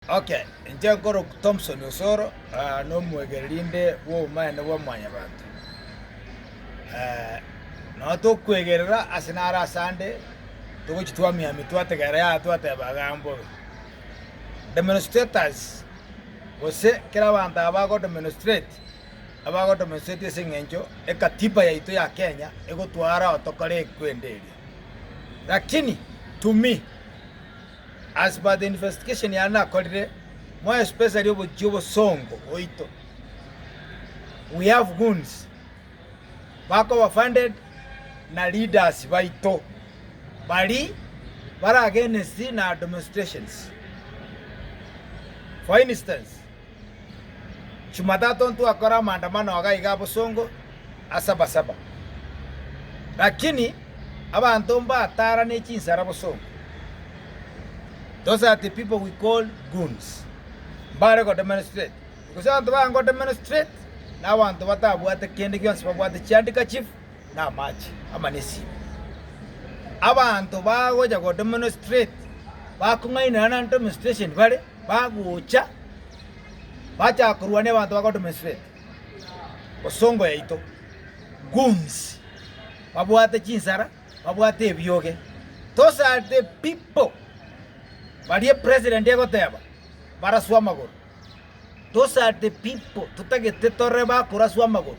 Ok, inche nkorokwa Thompson Osoro, nomwegereri nde bw'obomaene bwa Mwanyabaanto. Nao tokwegerera ase naro asande, togochi twamiamia twategera yaya twateba agaambobe, demonstrators gose kera abanto aba bago demonstrate, abago demonstrate ase eng'encho ekatiba yaito ya Kenya egotwara tokore ekwende eria. Lakini to me. As per the investigation yane nakorire, more especially obochie obosongo oito, we have goons bakoba funded na leaders baito bari bare against na admnistrations. For instance. Chumatato ntwakore amandamano aga iga abosongo ase abasaba, lakini abanto mbatara ne chinsara bosongo. Those are the people we call goons. Mbare go demonstrate. Gose abanto baye go demonstrate na abanto batabwate kende gionsi babwate chi handkerchief na amache ama ne simu. Abanto bagocha go demonstrate bakong'ainerana na demonstration bare bagocha, bachaka korwa nebanto ba Gotoma Esibete, bosongo yaito, goons, babwate chinsara, babwate ebioge. Those are the people baria president egoteba baraswe amagoro. Those are the people totagete tore bakoraswa amagoro.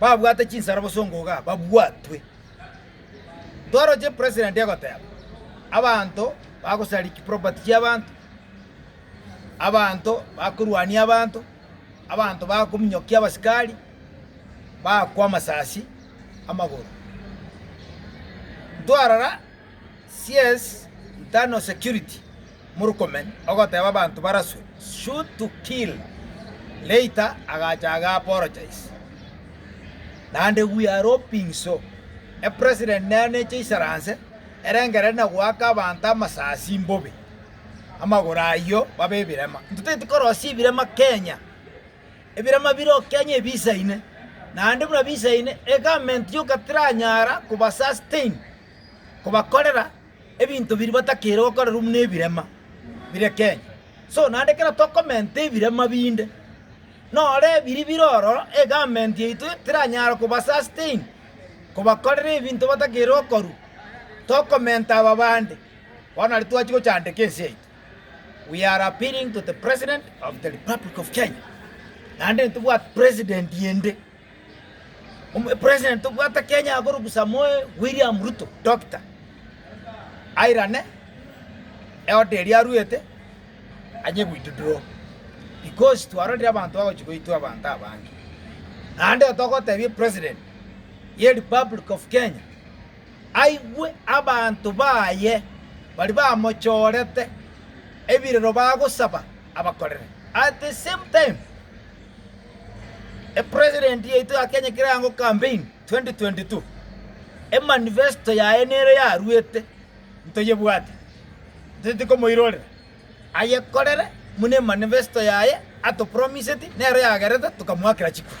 babwate chinsara bosongo iga babwatwe. Toroche president egoteba, abanto bagosariki property chiabanto, abanto bakorwania abanto, abanto bakominyokia abasikari, bagakwa amasasi amagoro. Ntwarora CS internal security. Murkomen ogoteeba abanto baraswe, Shoot to kill. Later agacha ag'apologize. Naende we are hoping so. A president nere neche isaranse erengerere na goaka abanto amasasi mbobe, amagoro ayio babe ebirema. Ntotaeti korosia ebirema Kenya. Ebirema bire oo Kenya ebisaine. Naende buna bisaine, egavment yoka tiranyara koba sustain, kobakorera. Ebinto biria batakeire gokorerwa nebirema bire Kenya. So naende ekero tokomenta ebirema binde, noro ebiria bire oro egarment yaito teranyara koba sustain, kobakorera ebinto batakeire gokorwa. Tokomenta aba bande, bono aria twachia gochandeka ense yaito. We are appealing to the President of the Republic of Kenya, naende intobwati President ende. President obwate Kenya akorugusa moe William Ruto Dokita airane eoda eria aruete anye goitudurwa because twarorire abanto bagochi goitwa abanto abange naende togotebia president ye republic of Kenya aigwe abanto baye bari bamochorete ebirero bagosaba abakorere at the same time. Epresident yaito ya Kenya ekero erango campaign 2022, emanifesto yaye nere yaruete, ntoyebwate, ntoteti komoirorera. Ayekorere buna emanifesto yaye atopromiseti nero yagerete tokamoakera chikura.